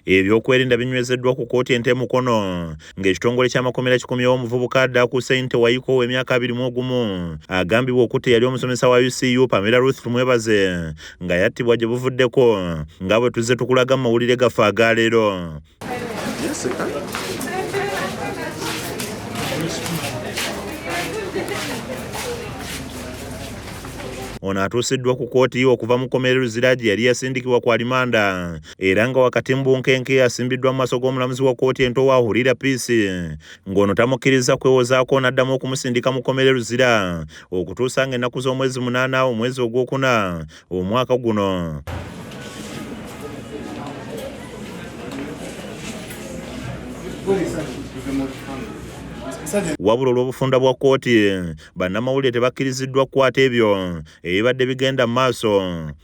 Ebyokwerinda binywezeddwa ku kkooti ento e Mukono ng'ekitongole ky'amakomera kikomyewo omuvubuka adda akuuse nti Tewayiko ow'emyaka abiri mu ogumu agambibwa okutta eyali omusomesa wa UCU Pamela Ruth Tumwebaze nga yattibwa gye buvuddeko nga bwe tuzze tukulaga mu mawulire gaffe aga leero. Ono atuusiddwa ku kkooti okuva mu kkomera e Luzira gye yali yasindikibwa ku alimanda era nga wakati mu bunkenke yasimbiddwa mu maaso g'omulamuzi wa kkooti ento wa Hurira Peace ng'ono tamukkirizza kwewozaako n'addamu okumusindika mu kkomera e Luzira okutuusa ng'ennaku z'omwezi munaana omwezi ogwokuna omwaka guno. wabula olw'obufunda bwa kkooti bannamawulire tebakkiriziddwa kukwata ebyo ebibadde bigenda mu maaso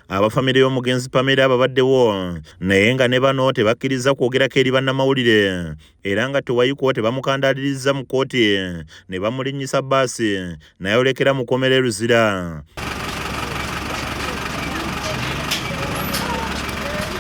abafamire y'omugenzi pamera ababaddewo naye nga ne bano tebakkiriza kwogerako eri bannamawulire era nga tewayiko tebamukandaaliriza mu kkooti ne bamulinnyisa baasi nayolekera mu kkomera e luzira